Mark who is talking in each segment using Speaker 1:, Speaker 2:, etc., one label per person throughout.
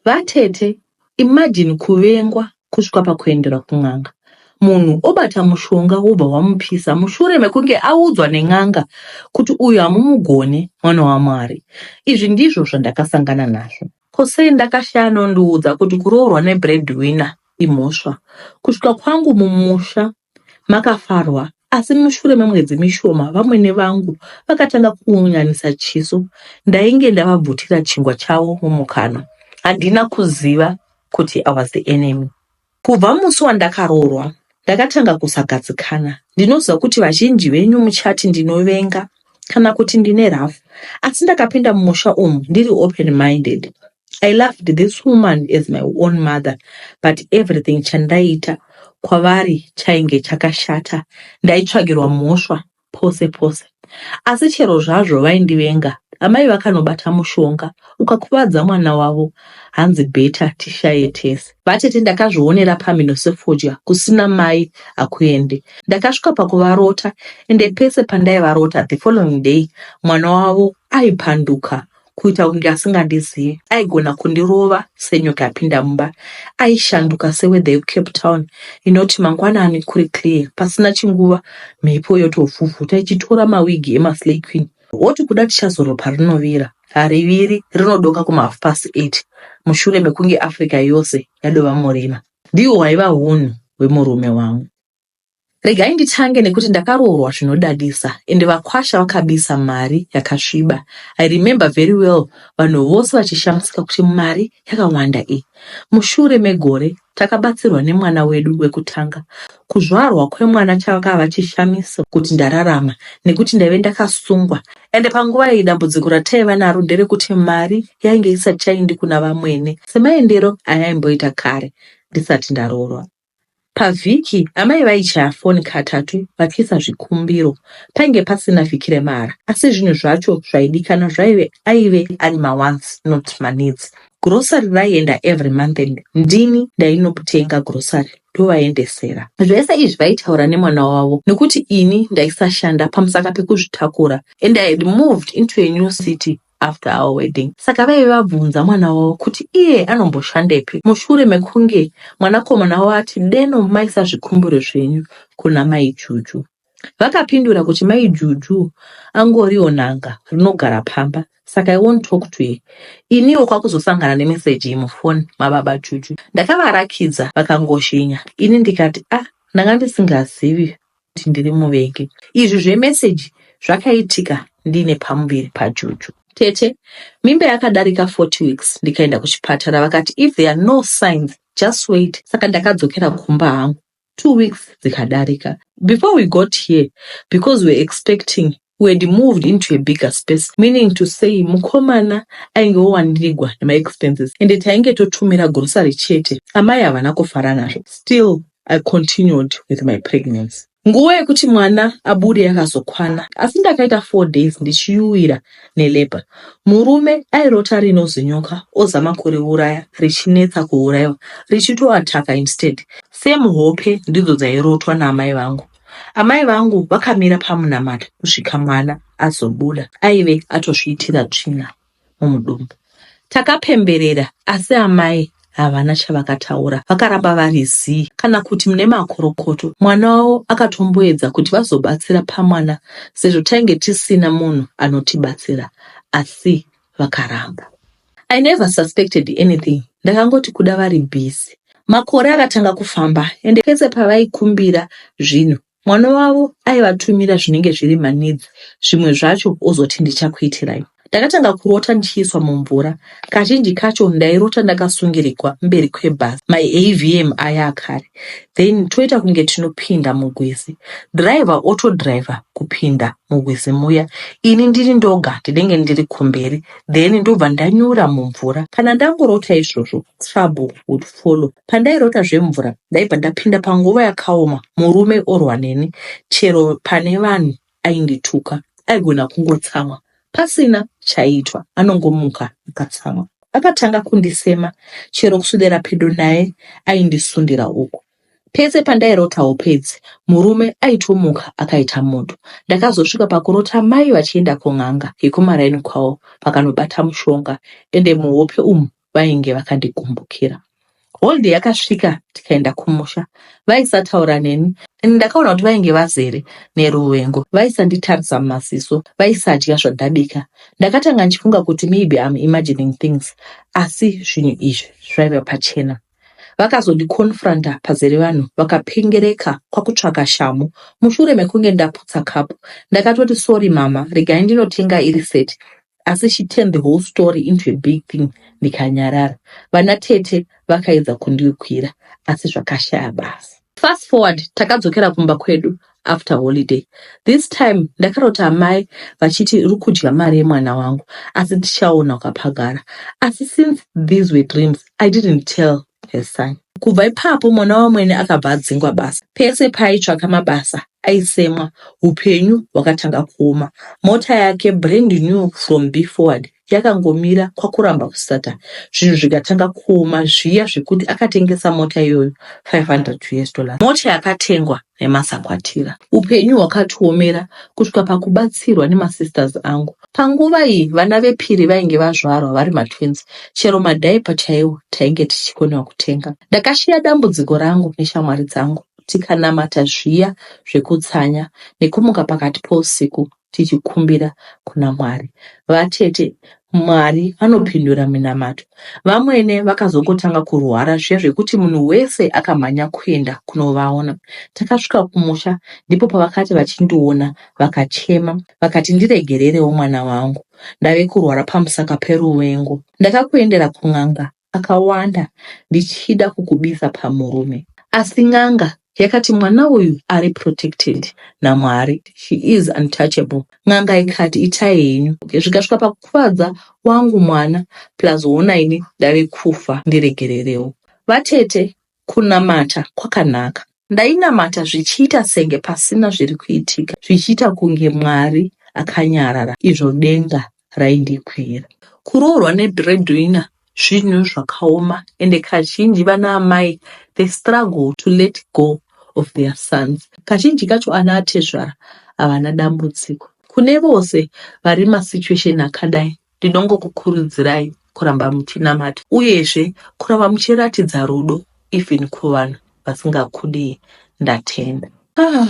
Speaker 1: Vatete imagine kuvengwa kusvika pakuendera kun'anga munhu obata mushonga wobva wamupisa mushure mekunge audzwa nen'anga kuti uyu hamumugone mwana waMwari. Izvi ndizvo zvandakasangana nazvo. Ko sei ndakashaya anondiudza kuti kuroorwa nebreadwinner imhosva. Kusvika kwangu mumusha makafarwa asi mushure memwedzi mishoma vamwene vangu vakatanga kuunganisa chiso ndainge ndavabvutira chingwa chavo mumukanwa handina kuziva kuti i was the enemy kubva musi wandakaroorwa ndakatanga kusagadzikana ndinoziva kuti vazhinji venyu muchati ndinovenga kana kuti ndine rough asi ndakapinda mumusha umu ndiri open minded i loved this woman as my own mother but everything chandaiita kwavari chainge chakashata ndaitsvagirwa mhosva pose pose asi chero zvazvo vaindivenga amai vakanobata mushonga ukakuvadza mwana wavo hanzi beta tishaye tese Vatete ndakazvionera pamhino sefodya kusina mai hakuende. Ndakasvika pakuvarota ende pese pandaivarota the following day mwana wavo aipanduka kuita kunge asingandizivi. Aigona kundirova senyoka yapinda mumba. Aishanduka seweather yeCape Town inoti mangwanani kuri clear pasina chinguva mhepo yotovhuvhuta ichitora mawigi emaslay queen. Woti kuda tichazorwa parinovira, hariviri, rinodoka kuma half past eight mushure mekunge Africa yose yadova murima. Ndihwo hwaiva hunhu hwemurume wangu. Regai nditange nekuti ndakaroorwa zvinodadisa ende vakwasha vakabisa mari yakasviba. I remember very well vanhu vose vachishamisika kuti mari yakawanda iyi. Mushure megore Takabatsirwa nemwana wedu wekutanga. Kuzvarwa kwemwana chakava chishamiso kuti ndararama nekuti ndaive ndakasungwa ende panguva iyi dambudziko rataiva naro nderekuti mari yainge isati chaindi kuna vamwene semaendero ayaimboita kare ndisati ndaroorwa. Pavhiki amai vaichaya foni katatu vachiisa zvikumbiro. Painge pasina vhiki remahara asi zvinhu zvacho zvaidikana zvaive aive ari mawansi not maneeds. Grocery raienda every month and ndini ndainotenga grocery ndovaendesera. Zvese izvi vaitaura nemwana wavo nekuti ini ndaisashanda pamusaka pekuzvitakura and I had moved into a new city after our wedding. Saka vaive vabvunza mwana wavo kuti iye anomboshandepi mushure mekunge mwanakomana wavo ati deno maisa zvikumbiro zvenyu kuna mai Juju. Vakapindura kuti mai Juju angoriwo n'anga rinogara pamba saka I won't talk to her. Iniwo kwakuzosangana nemeseji mufoni mababa Juju. Ndakavarakidza vakangozhinya ini ndikati ah ndanga ndisingazivi kuti ndiri muvengi. Izvi zvemeseji zvakaitika ndiine pamuviri paJuju. Tete, mimba yakadarika 40 weeks ndikaenda kuchipatara vakati if there are no signs just wait saka ndakadzokera kumba hangu. two weeks dzikadarika before we got here because we're expecting we had moved into a bigger space meaning to say mukomana ainge wowandirigwa nemaexpenses ende tainge totumira grocery chete amai havana kufara nazvo still i continued with my pregnancy nguva yekuti mwana abude yakazokwana asi ndakaita four days ndichiyuwira nelabour. Murume airota rinozi nyoka ozama kuriuraya richinetsa kuuraiwa richito attacker instead. Same hope ndidzo dzairotwa naamai vangu. Amai vangu vakamira pamunamata kusvika mwana azobuda aive atozviitira tsvina mumudumbu. Takapemberera asi amai havana chavakataura, vakaramba vari zii kana kuti mune makorokoto. Mwana wavo akatomboedza kuti vazobatsira pamwana sezvo tainge tisina munhu anotibatsira asi vakaramba. I never suspected anything, ndakangoti kuda vari busy. Makore akatanga kufamba ende pese pavaikumbira zvinhu Mwana wavo aivatumira zvinenge zviri manidzi, zvimwe zvacho ozoti ndichakuitirai. Ndakatanga kurota ndichiiswa mumvura. Kazhinji kacho ndairota ndakasungirigwa mberi kwebhazi maAVM aya akare then toita kunge tinopinda mugwizi. Driver otodriver kupinda mugwizi muya ini ndiri ndoga ndinenge ndiri kumberi then ndobva ndanyura mumvura. Kana ndangorota izvozvo trouble would follow. Pandairota zvemvura ndaibva ndapinda panguva yakaoma murume orwa neni chero pane vanhu aindituka aigona kungotsamwa pasina chaiitwa anongomuka akatsamwa. Akatanga kundisema chero kuswedera pedo naye aindisundira uku. Pese pandairota upedzi murume aitomuka akaita moto. Ndakazosvika pakurota mai vachienda kun'anga yekumaraini kwavo vakanobata mushonga ende muhope umu vainge vakandigumbukira. Holiday yakasvika tikaenda kumusha. Vaisataura neni and ndakaona kuti vainge vazere neruvengo. Vaisanditarisa mumaziso, vaisadya zvandabika. Ndakatanga ndichifunga kuti maybe I'm imagining things asi zvinhu izvi zvaiva pachena. Vakazondiconfronta pazere vanhu vakapengereka kwakutsvaka shamhu. Mushure mekunge ndaputsa kapu, ndakatoti sorry mama, regai ndinotenga iri set asi she turned the whole story into a big thing ndikanyarara vana tete vakaedza kundikwira asi zvakashaya basa fast forward takadzokera kumba kwedu after holiday this time ndakarota amai vachiti uri kudya mari yemwana wangu asi tichaona ukapagara asi since these were dreams i didn't tell Hesai. Kubva ipapo mwana wamwene akabva adzingwa basa. Pese paaitsvaka mabasa aisemwa, upenyu hwakatanga kuoma. Mota yake brand new from B forward yakangomira kwakuramba kusata zvinhu zvikatanga kuoma zviya zvekuti akatengesa mota iyoyo 500 us dollars. Mota yakatengwa remasakwatira. Upenyu hwakatiomera kusvika pakubatsirwa nemasisters angu. Panguva iyi vana vepiri vainge vazvarwa vari matwins, chero madiaper chaiwo tainge tichikonewa kutenga. Ndakasheya dambudziko rangu neshamwari dzangu tikanamata zviya zvekutsanya nekumuka pakati pousiku tichikumbira kuna Mwari. Vatete Mwari vanopindura minamato. Vamwene vakazongotanga kurwara zviya zvekuti munhu wese akamhanya kuenda kunovaona. Takasvika kumusha ndipo pavakati vachindiona vakachema vakati ndiregererewo mwana wangu ndave kurwara pamusaka peruvengo. Ndakakuendera kun'anga akawanda ndichida kukubisa pamurume asi n'anga yakati mwana uyu ari protected naMwari she is untouchable n'anga ikati itai henyu okay, zvikasvika pakukuvadza wangu mwana plus hona ini ndave kufa ndiregererewo vatete Kunamata kwakanaka. Ndainamata zvichiita senge pasina zviri kuitika, zvichiita kunge Mwari akanyarara izvo denga raindikwira. Kuroorwa nebreadwinner zvinhu zvakaoma ende kazhinji vana amai they struggle to let go of their sons. Kazhinji kacho ana atezvara havana dambudziko. Kune vose vari masituation akadai Ndinongokukurudzirai kuramba muchinamata uyezve kuramba muchiratidza rudo even kuvanhu vasingakudii. Ndatenda. Ah,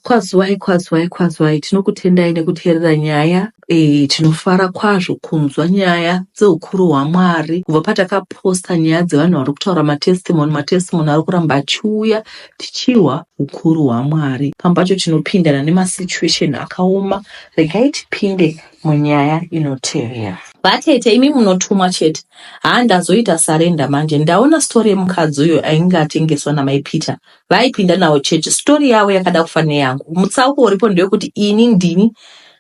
Speaker 1: kwazwai kwazwai kwazwai tinokutendai nekuteerera nyaya e, tinofara kwazvo kunzwa nyaya dzeukuru hwamwari kubva patakaposta nyaya dzevanhu vari kutaura matestimony matestimony ari kuramba achiuya tichirwa ukuru hwamwari pamwe pacho tinopindana nemasituation akaoma regai tipinde munyaya inotevera. Ba tete imi munotumwa chete. Haa ndazoita surrender manje ndaona story yemukadzi uyo ainge atengeswa namai Peter vaaipinda navo church. Story yavo yakada kufa neyangu. Mutsauko uripo ndewekuti ini ndini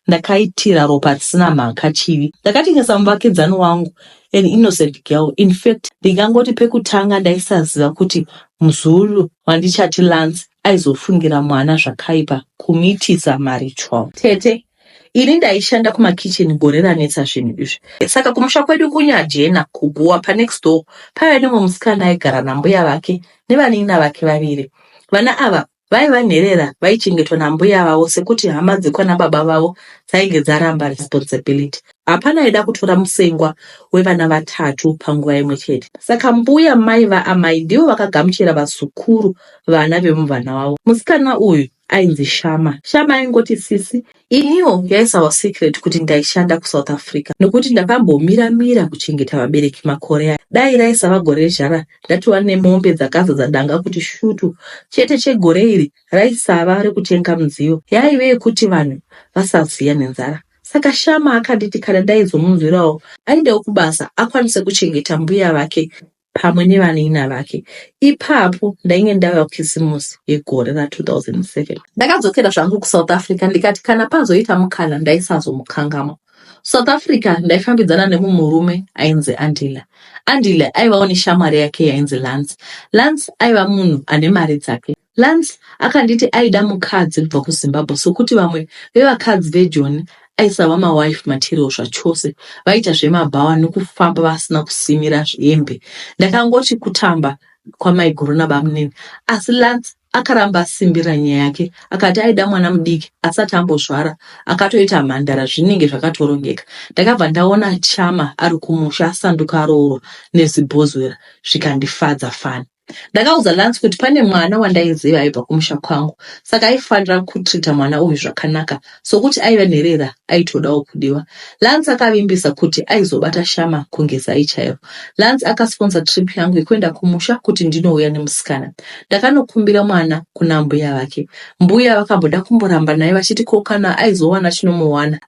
Speaker 1: ndakaitira ropa risina mhaka chivi. Ndakatengesa muvakidzani wangu an innocent girl. In fact ndingangoti pekutanga ndaisaziva kuti mzulu wandichati Lance aizofungira mwana zvakaipa kumiitisa marital. Tete Ini ndaishanda kumakitchen gore ranetsa zvinhu izvi. Saka kumusha kwedu kuNyajena, kuGuwa, panext door paive nemumwe musikana aigara nambuya vake nevanin'ina vake vaviri. Vana ava vaiva nherera vaichengetwa nambuya vavo sekuti hama dzekwana baba vavo dzainge dzaramba responsibility. Hapana aida kutora musengwa wevana vatatu panguva imwe chete. Saka mbuya mai vaamai ndivo vakagamuchira vazukuru vana vemuvana wavo. Musikana uyu ainzi Shama. Shama aingoti sisi. Iniwo yaisawa secret kuti ndaishanda kuSouth Africa nokuti ndakambomira mira kuchengeta vabereki makore aya. Dai raisava gore rezhara ndatova nemombe dzakazadza danga kuti shutu. Chete chegore iri raisava rekutenga mudziyo yaive yekuti vanhu vasaziya nenzara. Saka Shama akanditi kana ndaizomunzwirawo aendewo kubasa akwanise kuchengeta mbuya vake pamwe nevani'ina vake. Ipapo ndainge ndava Kisimusi yegore ra 2007. Ndakadzokera zvangu kuSouth Africa ndikati kana pazoita mukana ndaisazomukangamwa. South Africa ndaifambidzana nemumwe murume ainzi Andile. Andile aivawo neshamwari yake yainzi Lance. Lance aiva munhu ane mari dzake. Lance akanditi aida mukadzi kubva kuZimbabwe sokuti vamwe vevakadzi veJoni aisava mawife material zvachose, vaiita zvemabhawa nekufamba vasina kusimira hembe. Ndakangoti kutamba kwamaiguru nabamunini, asi Lance akaramba asimbirira nyaya yake akati aida mwana mudiki asati ambozvara akatoita mhandara zvinenge zvakatorongeka ndakabva ndaona chama ari kumusha asanduka aroorwa nezibhozwera zvikandifadza fani Ndakaudza Lance kuti pane mwana wandaiziva aibva kumusha kwangu saka aifanira kutrita mwana uyu zvakanaka sokuti aiva nherera aitodawo kudiwa. Lance akavimbisa kuti aizobata shama kunge zai chairo. Lance akasponsa trip yangu yekuenda kumusha kuti ndinouya nemusikana. Ndakanokumbira mwana kuna mbuya vake. Mbuya vakamboda kumboramba naye vachiti ko kana aizowana chinomuwana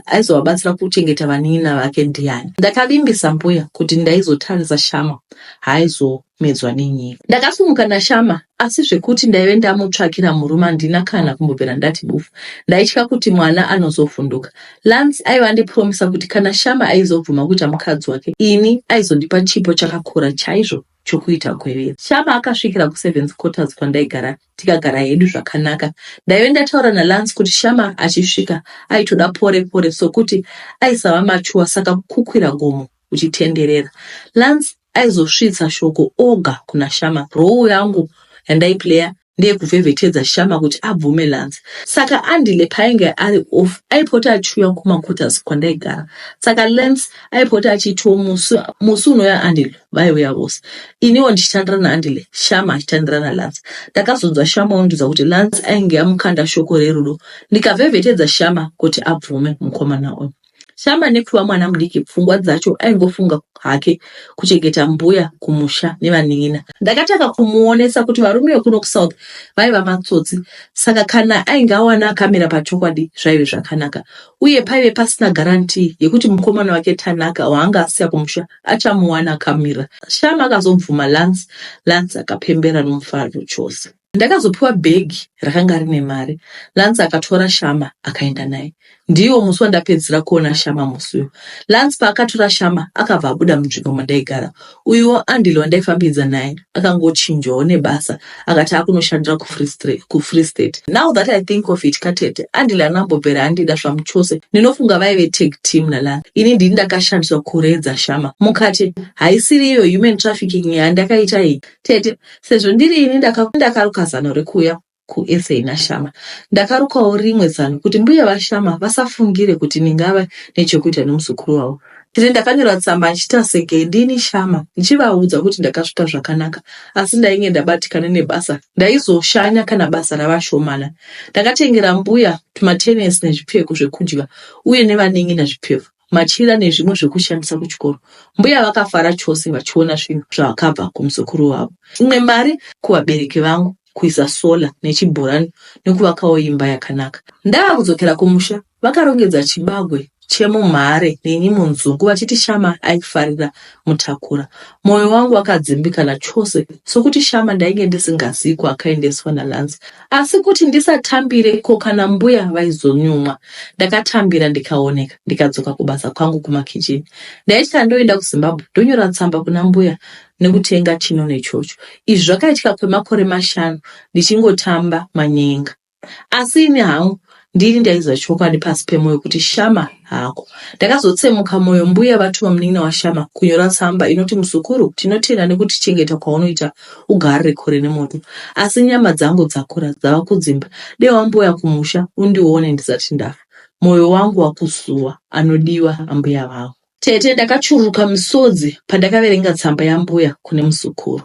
Speaker 1: aizovabatsira kuchengeta vanin'ina vake ndiani. Ndakavimbisa mbuya kuti ndaizotarisa shama haaizomedzwa nenyika. Ndakasumuka naShama asi zvekuti ndaive ndamutsvakira murume handina kana kumbobvira ndati bufu. Ndaitya kuti mwana anozovhunduka. Lance aive andipromisa kuti kana Shama aizobvuma kuita mukadzi wake ini aizondipa chipo chakakura chaizvo chokuita gwevere. Shama akasvikira kuservants quarters kwandaigara tikagara hedu zvakanaka. Ndaive ndataura naLance kuti Shama achisvika aitoda pore pore sokuti aisava mature saka kukwira gomo uchitenderera. Lance aizosvitsa shoko oga kuna Shama. Role yangu yandaiplayer ndeyekuvhevhetedza Shama kuti abvume Lance. Saka Andile paainge ari off aipota achiuya kumaquarters kwandaigara. Saka Lance aipota achiitiwo musi musi unouya Andile vaiuya vose. Iniwo ndichitandira naAndile, Shama achitandira naLance. Ndakazonzwa Shama ondiudza kuti Lance ainge amukanda shoko rerudo ndikavhevhetedza Shama kuti abvume mukomana uyu. Shamba nekupiwa mwana mudiki pfungwa dzacho aingofunga hake kuchengeta mbuya kumusha nevanin'ina. Ndakatanga kumuonesa kuti varume vekuno kusouth vaiva matsotsi saka kana ainge awana akamira pachokwadi zvaive zvakanaka uye paive pasina garantii yekuti mukomana wake Tanaka waanga asiya kumusha achamuwana akamira. Shama akazobvuma Lance, Lance akapembera nomufaro chose. Ndakazopiwa bhegi rakanga rine mari. Lance akatora Shama akaenda naye. Ndiwo musi wandapedzisira kuona Shama musi uyu. Lance paakatora Shama akabva abuda munzvimbo mandaigara. Uyuwo Andile wandaifambidza naye akangochinjwawo nebasa akati akunoshandira kuFree Stra- kuFree State. Now that I think of it katete, Andile haana kumbobvera andida zvamuchose. Ndinofunga vaive tag team naLance. Ini ndini ndakashandiswa kuredza Shama. Mukati haisiri iyo human trafficking yandakaita iyi. Tete, sezvo ndiri ini ndakaruka zano rekuuya kuSA naShama, ndakarukawo rimwe zano kuti mbuya vaShama vasafungire kuti ndingava nechokuita nomuzukuru wavo. Tete, ndakanyora tsamba ndichiita seke ndini Shama ndichivaudza kuti ndakasvika zvakanaka asi ndainge ndabatikana nebasa ndaizoshanya kana basa rava shomana. Ndakatengera mbuya tumatenesi nezvipfeko zvekudya uye nevanen'ina zvipfeko. machira nezvimwe zvekushandisa kuchikoro. Mbuya vakafara chose vachiona zvinhu zvakabva kumuzukuru wavo. Imwe mari kuvabereki vangu, kuisa solar nechibhorani nekuvakawo imba yakanaka. Ndava kudzokera kumusha, vakarongedza chibagwe chemumhare neni munzungu vachiti Shama aifarira mutakura. Moyo wangu wakadzimbikana chose sokuti Shama ndainge ndisingazivi kwaakaendeswa naLance. asi kuti ndisatambire ko kana mbuya vaizonyumwa. Ndakatambira ndikaoneka ndikadzoka kubasa kwangu kumakitchen. Ndaitya ndoenda kuZimbabwe ndonyora tsamba kuna mbuya nekutenga chino nechocho. Izvi zvakaitika kwemakore mashanu ndichingotamba manyenga. Asi ini hangu ndini ndaiziva chokwadi pasi pemoyo kuti shama hako ndakazotsemuka moyo mbuya vatuma munin'ina washama kunyora tsamba inoti muzukuru tinotenda nekuti chengeta kwaunoita ugarire kure nemoto asi nyama dzangu dzakura dzava kudzimba dei wambuya kumusha undione ndisati ndafa moyo wangu wakusuwa anodiwa ambuya vangu Tete ndakachururuka misodzi pandakaverenga tsamba yambuya kune muzukuru.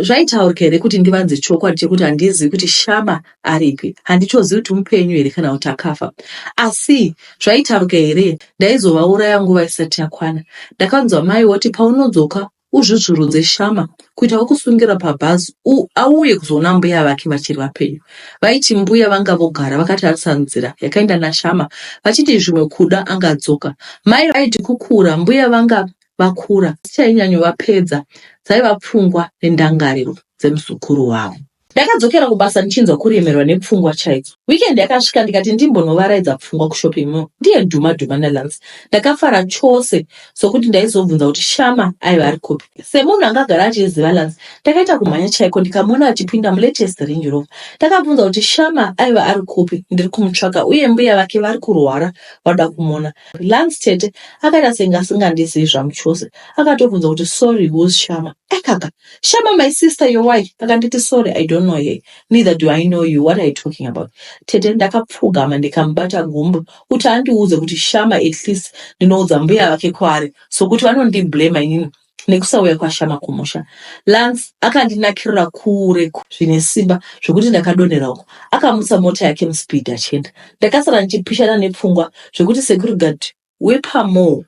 Speaker 1: Zvaitaurika here kuti ndivanze chokwadi chekuti handizivi kuti Shama aripi, handichozivi kuti mupenyu here kana kuti akafa. Asi zvaitaurika here ndaizovauraya nguva isati yakwana. Ndakanzwa mai voti paunodzoka uzvuzvurudze shama kuita wekusungira pabhazi auye kuzoona mbuya vake vachiri vapenyu vaiti mbuya vanga vogara vakatarisa nzira yakaenda nashama vachiti zvimwe kuda angadzoka mai vaiti kukura mbuya vanga vakura dzichainyanyovapedza dzaiva pfungwa nendangariro dzemuzukuru wavo Ndakadzokera kubasa ndichinzwa kuremerwa nepfungwa chaidzo. Weekend yakasvika ndikati ndimbonovaraidza pfungwa kushopping mall ndiye dhuma dhuma naLance. Ndakafara chose sokuti ndaizobvunza kuti Shama aiva ari kupi. Semunhu anga agara achiziva Lance, ndakaita kumhanya chaiko ndikamuona achipinda mulatest Range Rover. Ndakabvunza kuti Shama aiva ari kupi, ndiri kumutsvaka uye mbuya vake vari kurwara vanoda kumuona. Lance tete akaita senge asingandizivi zvamu chose. Akatobvunza kuti sorry who's Shama? Ekaka, Shama my sister your wife akanditi sorry I don't know her neither do I know you what are you talking about tete ndakapfugama ndikamubata gumbo kuti andiudze kuti Shama at least ndinoudza mbuya vake kwaari so kuti vanondiblema inini nekusauya kwashama kumusha lance akandinakirira kure zvine simba zvekuti ndakadonhera uko akamutsa mota yake muspeed achienda ndakasara ndichipishana nepfungwa zvekuti securigard wepaMall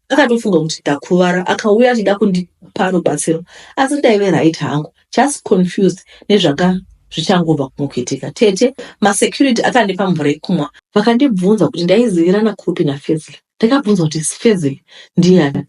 Speaker 1: akatofunga kuti ndakuvara akauya achida kundipa rubatsiro asi ndaive right hangu just confused nezvaka zvichangobva kumukuitika tete masecurity akandipa mvura yekumwa vakandibvunza kuti ndaizivirana kupi nafezile ndakabvunza kuti sifezile ndiyani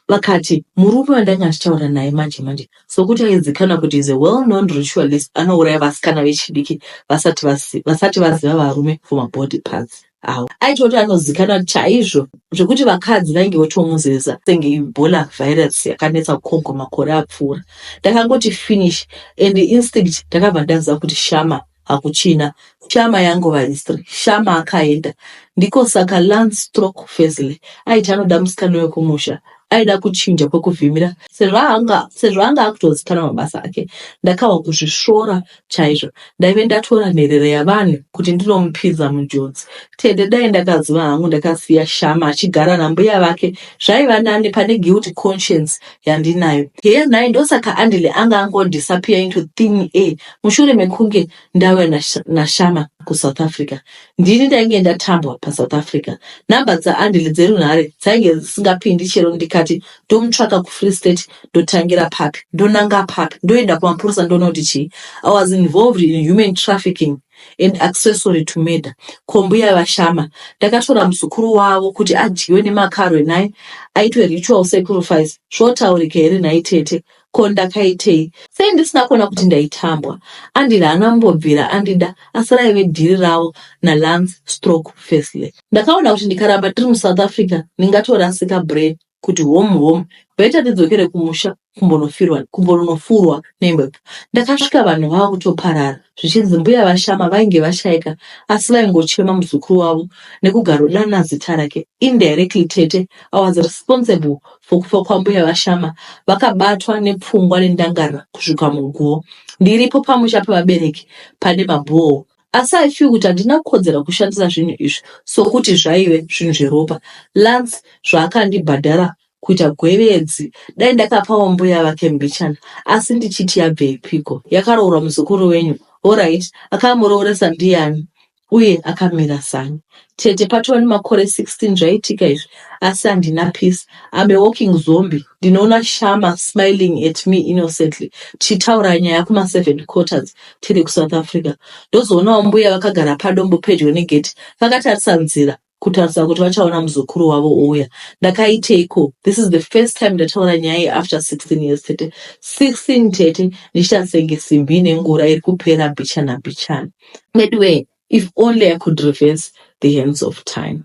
Speaker 1: vakati murume wandanga achitaura naye manje manje sokuti aizikana kuti is a well known ritualist anouraya vasikana vechidiki vasati vaziva varume for mabody parts awo aitoti anozikanwa chaizvo zvekuti vakadzi vainge votomuzeza senge ibola virus yakanetsa kucongo makore apfuura ndakangoti finish and instinct ndakabva ndaziva kuti shama hakuchina shama yangova history shama akaenda ndiko saka lance stroke fesly aiti anoda musikana wekumusha aida kuchinja kwekuvhimira sezvo anga akutozikanwa mabasa ake ndakahwa kuzvisvora chaizvo ndaive ndatora nherera yavanhu kuti ndinomupinza munjodzi tete dai ndakaziva hangu ndakasiya shama achigara nambuya vake zvaiva nani pane guilty conscience yandinayo heya nhai ndosaka andile anga angondisappear into thin air mushure mekunge ndauya nashama kusouth africa ndini ndainge ndatambwa pasouth africa number dzaandile dzerunhare dzainge dzisingapindi chero ndikati ndomutsvaka kufree state ndotangira papi ndonanga papi ndoenda kumapurisa ndoona kuti chii i was involved in human trafficking and accessory to murder kombuya vashama ndakatora muzukuru wavo kuti adyiwe nemakarwe naye aitwe ritual sacrifice zvotaurika here nhai tete ko ndakaitei sei ndisina kuona kuti ndaitambwa andida haana mbobvira andida asi raive dhiri ravo nalance stroke firstly ndakaona kuti ndikaramba tiri muSouth Africa ndingatorasika brain kuti home home better tidzokere kumusha kumbonofirwa kumbonofurwa nemhepo ndakasvika vanhu vava kutoparara zvichinzi mbuya vashama vainge vashaika asi vaingochema muzukuru wavo nekugarodana zita rake indirectly tete awas responsible for kufa kwambuya vashama vakabatwa nepfungwa nendangarira kusvika muguwo ndiripo pamusha pevabereki pane mabhoo Asi I feel kuti handina kodzera kushandisa zvinhu izvi sokuti zvaive zvinhu zveropa. Lance zvaakandibhadhara kuita gwevedzi dai ndakapawo mbuya vake mbichana asi ndichiti yabveipiko yakaroorwa muzukuru wenyu horait akamurooresa ndiani uye akamira sani Tete patova nemakore 16 zvaitika izvi asi handina peace. I'm a walking zombie. Ndinoona Shama smiling at me innocently tichitaura nyaya kuma 7 quarters tiri kuSouth Africa. Ndozoonawo mbuya vakagara padombo pedyo negate vakatarisa nzira kutarisa kuti vachaona muzukuru wavo ouya. Ndakaiteiko? This is the first time ndataura nyaya iyi after 16 years tete. 16 tete ndichita senge simbi ine ngura iri kupera mbichana mbichana. Veduwee if only i could reverse the hands of time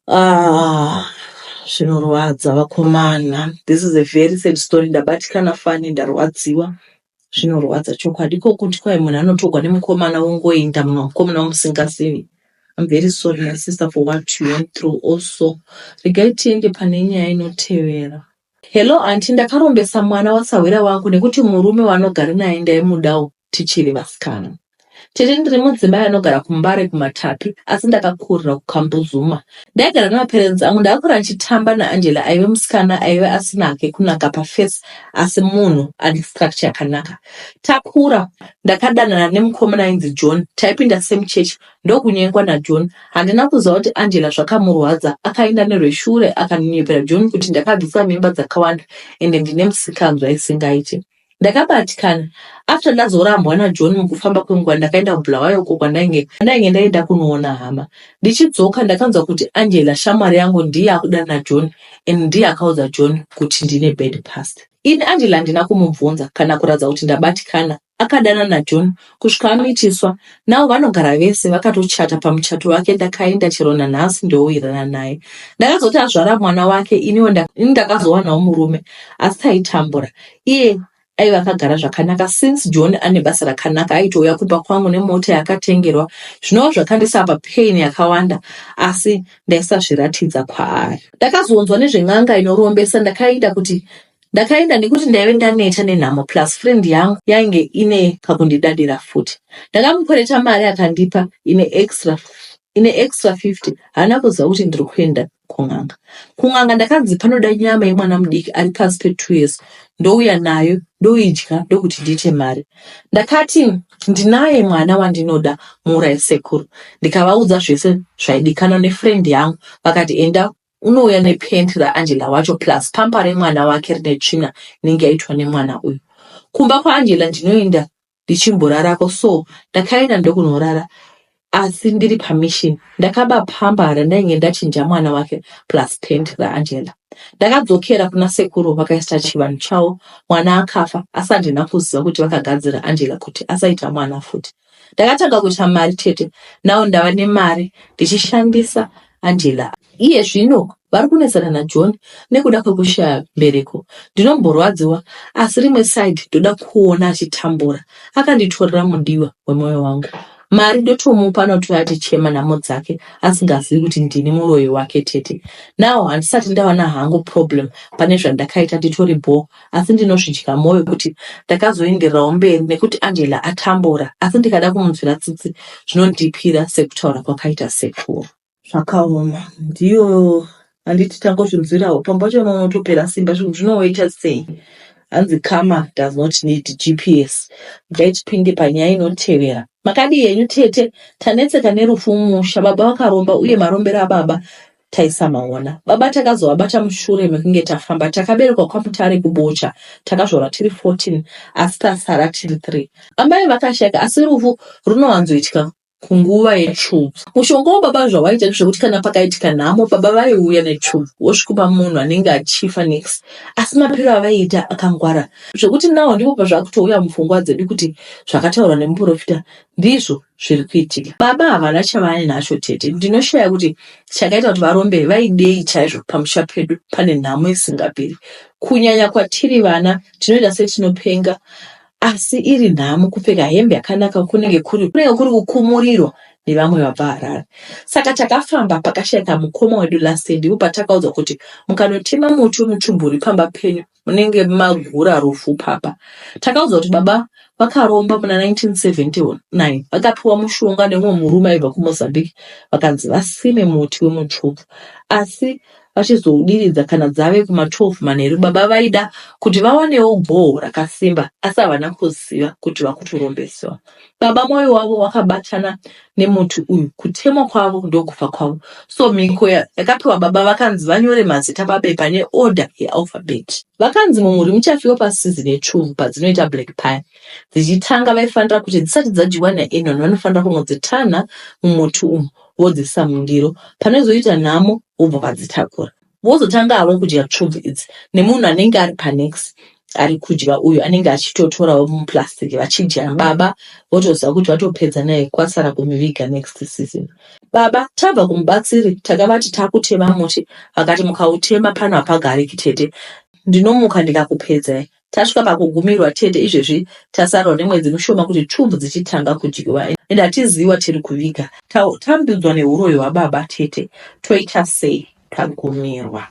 Speaker 1: ah zvinorwadza vakomana this is a very sad story ndabatikana fani ndarwadziwa zvinorwadza chokwadi ko kuti kwai munhu anotogwa nemukomana wongoenda mumwe mukomana wamusingazivi I'm very sorry my sister for what you went through also regai tiende pane nyaya inotevera Hello aunty ndakarombesa mwana wasahwira wangu nekuti murume wanogara naye ndaimudawo tichiri vasikana. Tete ndiri mudzimai anogara kuMbare kuMatapi asi ndakakurira kuKambuzuma. Ndaigara nemaparents angu ndakakura ndichitamba naAngela aive musikana aive asina hake kunaka pafesi asi munhu ane structure yakanaka. Takura ndakadanana nemukomana ainzi John taipinda same church ndokunyengwa naJohn. Handina kuziva kuti Angela zvakamurwadza, akaenda nerweshure akanonyepera John kuti ndakabvisa mimba dzakawanda ende ndine musikanzwa isingaite. Ndakabatikana. After ndazorambwa naJohn mukufamba kwenguva ndakaenda kuBulawayo uko kwandainge ndainge ndaenda kunoona hama. Ndichidzoka ndakanzwa kuti Angela shamwari yangu ndiye akudana naJohn and ndiye akaudza John kuti ndine bad past. Ini Angela handina kumubvunza kana kuratidza kuti ndabatikana Akadana naJohn kusvika amitiswa now vanogara vese vakatochata pamuchato wake ndakaenda chero nanhasi ndowirana naye ndakazoti azvara mwana wake iniwo ini ndakazowanawo murume asi taitambura iye aiva akagara zvakanaka since john ane basa rakanaka aitouya kumba kwangu nemota yakatengerwa zvinova zvakandisapa pain yakawanda asi ndaisazviratidza kwaari ndakazonzwa nezven'anga inorombesa ndakaida kuti Ndakaenda nekuti ndaive ndaneta nenhamo plus friend yangu yainge ine kakundidadira futi. Ndakamukwereta mari akandipa ine extra ine extra 50 haana kuziva kuti ndiri kuenda kun'anga. Kun'anga ndakanzi panoda nyama yemwana mudiki ari pasi pe 2 years ndouya nayo ndoidya ndokuti ndiite mari. Ndakati ndinaye mwana wandinoda muurayi sekuru ndikavaudza zvese zvaidikanwa nefriend yangu vakati enda unouya nepent raangela wacho plus pampa remwana wake rine tsvina inenge yaitwa nemwana uyu kumba kwaangela ndinoenda ndichimborarako so ndakaenda ndokunorara asi ndiri pamishin ndakaba pamba randainge ndachinja mwana wake plus pent raangela ndakadzokera kuna sekuru vakaisa chivanhu chavo mwana akafa asi handina kuziva kuti vakagadzira angela kuti asaita mwana futi Ndakatanga kuita mari chete, now ndava nemari ndichishandisa Angela. Iye zvino vari kunetsana naJohn nekuda kwekushaya mbereko. Ndinomborwadziwa asi rimwe side ndoda kuona achitambura. Akanditorera mudiwa wemoyo wangu. Mari ndotomupa anotouya atichema nhamo dzake asingazivi kuti ndini muroyi wake tete. Now handisati ndawana hangu problem pane zvandakaita nditori bhoo asi ndinozvidya mwoyo kuti ndakazoendererawo mberi nekuti Angela atambura asi ndikada kumunzwira tsitsi zvinondipira sekutaura kwakaita sekuru. Zvakaoma ndiyo handiti tangozvinzwirawo pamba pacho vamwe vanotopera simba zvinhu zvinowaita sei hanzi kama does not need gps dai tipinde panyaya inotevera makadii henyu tete tanetseka nerufu mumusha baba vakaromba uye marombero ababa taisamaona baba takazovabata mushure mekunge tafamba takaberekwa kwamutare kubocha takazvarwa tiri 14 asi tasara tiri 3 amai vakashaka asi rufu runowanzoitika kunguva yetsvubvu mushonga wababa zvawaita ndezvekuti kana pakaitika nhamo baba vaiuya netsvubvu wosvikupa munhu anenge achifa next asi mapiro avaiita akangwara zvekuti nawo ndipo pazvakutouya mupfungwa dzedu kuti zvakataurwa nemuprofita ndizvo zviri kuitika baba havana chavanacho tete ndinoshaya kuti chakaita kuti varombe vaidei chaizvo pamusha pedu pane nhamo isingaperi kunyanya kwatiri vana tinoita setinopenga asi iri nhamo kupfeka hembe yakanaka kunenge kuri kunenge kuri kukumurirwa nevamwe vabva harare saka takafamba pakashaika mukoma wedu last ndipo patakaudzwa kuti mukanotema muti wemuchumburi pamba penyu munenge magura rufu papa takaudzwa kuti baba vakaromba muna 1979 vakapiwa mushonga nemumwe murume aibva kumozambique vakanzi vasime muti wemutsvuku asi vachizoudiridza kana dzave kuma 12 manheru baba vaida kuti vawanewo goho rakasimba asi havana kuziva kuti vakutorombeswa Baba mwoyo wavo wakabatana nemuti uyu, kutemwa kwavo ndokufa kwavo. So mhiko yakapiwa baba vakanzi vanyore mazita pabepa neorder yealphabet. Vakanzi mumhuri muchafiwa pasizini yechuvhu padzinoita black pie dzichitanga, vaifanira kuti dzisati dzadyiwa naenon vanofanira kunodzitanha mumuti umu vodziisa mundiro, panozoita nhamo vobva vadzitakura. vozotanga havo kudya tsvubvu idzi nemunhu anenge ari panext ari kudya uyu anenge achitotorawo muplastic vachidya baba votoziva kuti vatopedza naye kwasara kumiviga next season baba tabva kumubatsiri takavati takutema muti vakati mukautema pano hapagariki tete ndinomuka ndikakupedzai Tasvika pakugumirwa tete izvezvi tasarwa nemwedzi mushoma kuti twub dzichitanga kudyiwa and hatiziwa tiri kuviga tambidzwa nehuroyi hwababa tete toita sei tagumirwa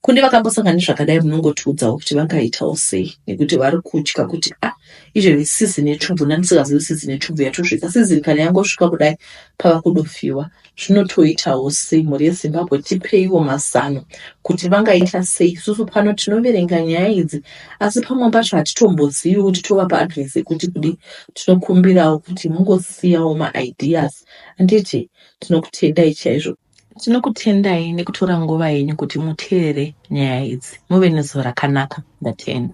Speaker 1: kune vakambosangana nezvakadai munongotiudzawo kuti vangaitawo sei nekuti vari kutya kuti a ah, izvezvi sizini yetsvubvu nani sikazivi sizini yetsvubvu yatosvika sizini kana yangosvika kudai pava kudofiwa zvinotoitawo sei mhuri yezimbabwe tipeiwo mazano kuti vangaita sei isusu pano tinoverenga nyaya idzi asi pamwe pacho hatitombozivi kuti tovapa advice yekuti kudi tinokumbirawo kuti mungosiyawo maideas anditi tinokutendai chaizvo tinokutendai nekutora nguva yenyu kuti muteerere nyaya idzi muve nezuva rakanaka ndatenda